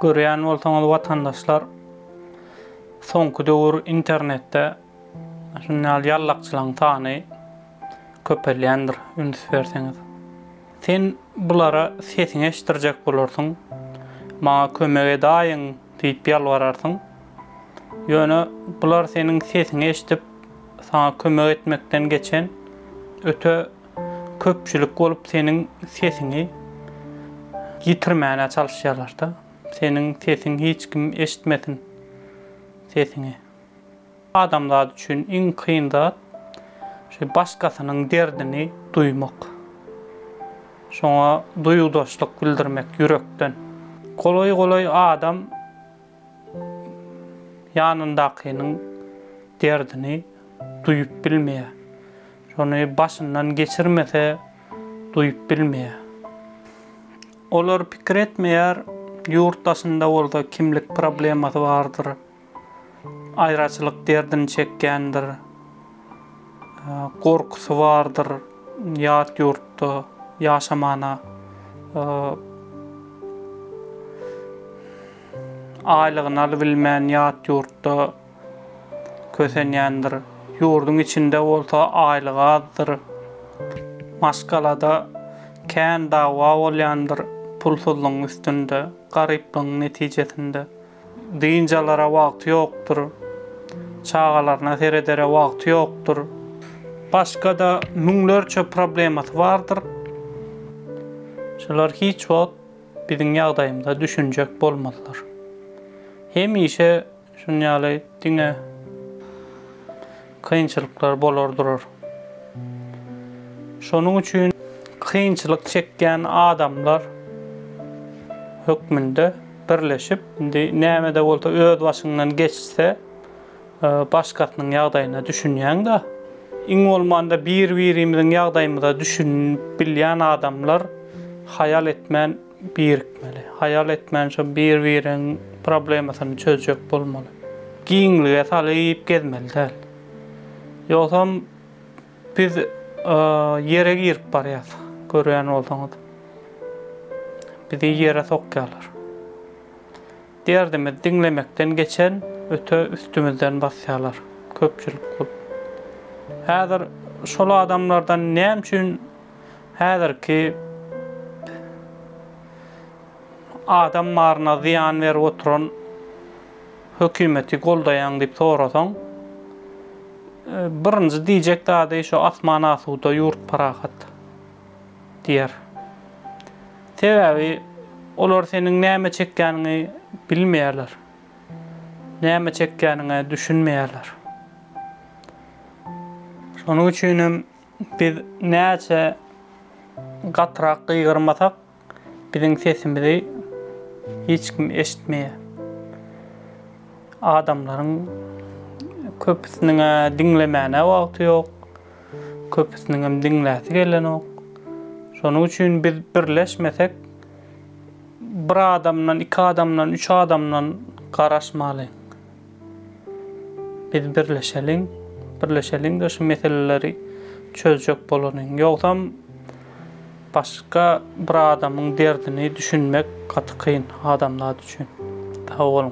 Görýän bolsaňyz watandaşlar soňky döwür internetde şuny ýaly ýallakçylaň sany köpelýändir üns berseňiz. Sen bulara sesiňi eşitdirjek bolarsyň, maňa kömek edaýiň diýip ýalbararsyň. Ýöne bular seniň sesiňi eşidip saňa kömek etmekden geçen öte Köpçülik bolup seniň sesiňi ýitirmäne çalyşýarlarda. Seniň sesiň hiç kim eşitmesin sesiňi. Adamzat üçin iň kyn zat şu başgasynyň derdini duýmak. Şoňa duýgudaşlyk bildirmek ýürekden. Golaý golaý adam ýanyndakynyň derdini duýup bilmeýär. Şony başyndan geçirmese duýup bilmeýär. Olar pikir etmeýär, ýurt daşynda bolsa kimlik problemasy bardyr, aýraçylyk derdini çekýändir, gorkusy bardyr ýat ýurtda ýaşamana, aýlygyny alybilmän ýat ýurtda. kösenýändir. Ýurduň içinde bolsa aýlygy azdyr. Maşgalada kän dawa bolýandyr pulsuzlygyň üstünde, garyplygyň netijesinde. Dynç alara wagty ýokdur. Çagalaryna seredere wagty ýokdur. Başga-da müňlerçe problemasy bardyr. Şular hiç wagt biziň ýagdaýymyza düşünjek bolmazlar. Hemişe. Şuň ýaly diňe kynçylyklar bolar durar. Şonuň üçin kynçylyk çekýän adamlar hökmünde birleşip, indi näme-de bolsa öz başyňdan geçse, başgasynyň ýagdaýyna düşünýäň-de. Iň bolmanda bir-birimiziň ýagdaýymyza düşünip bilýän adamlar haýal etmän birikmeli. Haýal etmän şo bir-biriň problemasyny çözjek bolmaly. Giňlige salyp gezmeli däl. Ýogsam biz ýere girip barýas. Görýän bolsaňyz. Bizi ýere sokýarlar. Derdimizi diňlemekden geçen öte üstümizden basýarlar. Köpçülik bolup. Häzir şol adamlardan näme üçin Häzirki adam baryna zyýan berip oturan hökümeti goldaýaň diýip sorasaň, birinji diýjek zady şu asman asuda ýurt parahat diýer. Sebäbi olar seniň näme çekýäniňi bilmeýärler. Näme çekýäniňe düşünmeýärler. Şonuň üçin hem Biz näçe gatyrak gygyrmasak, biziň sesimizi hiç kim eşitmeýär. Adamlaryň köpüsiniň-ä diňlemäne wagty ýok, köpüsiniňem diňläsi gelenok. Şonuň üçin biz birleşmesek, bir adamdan, iki adamdan, üç adamdan garaşmaly. Biz birleşeliň, birleşeliňde şu meseleleri çözjek bolalyň. Ýogsam başga bir adamyň derdini düşünmek gaty kyn adamzat üçin. Sag boluň.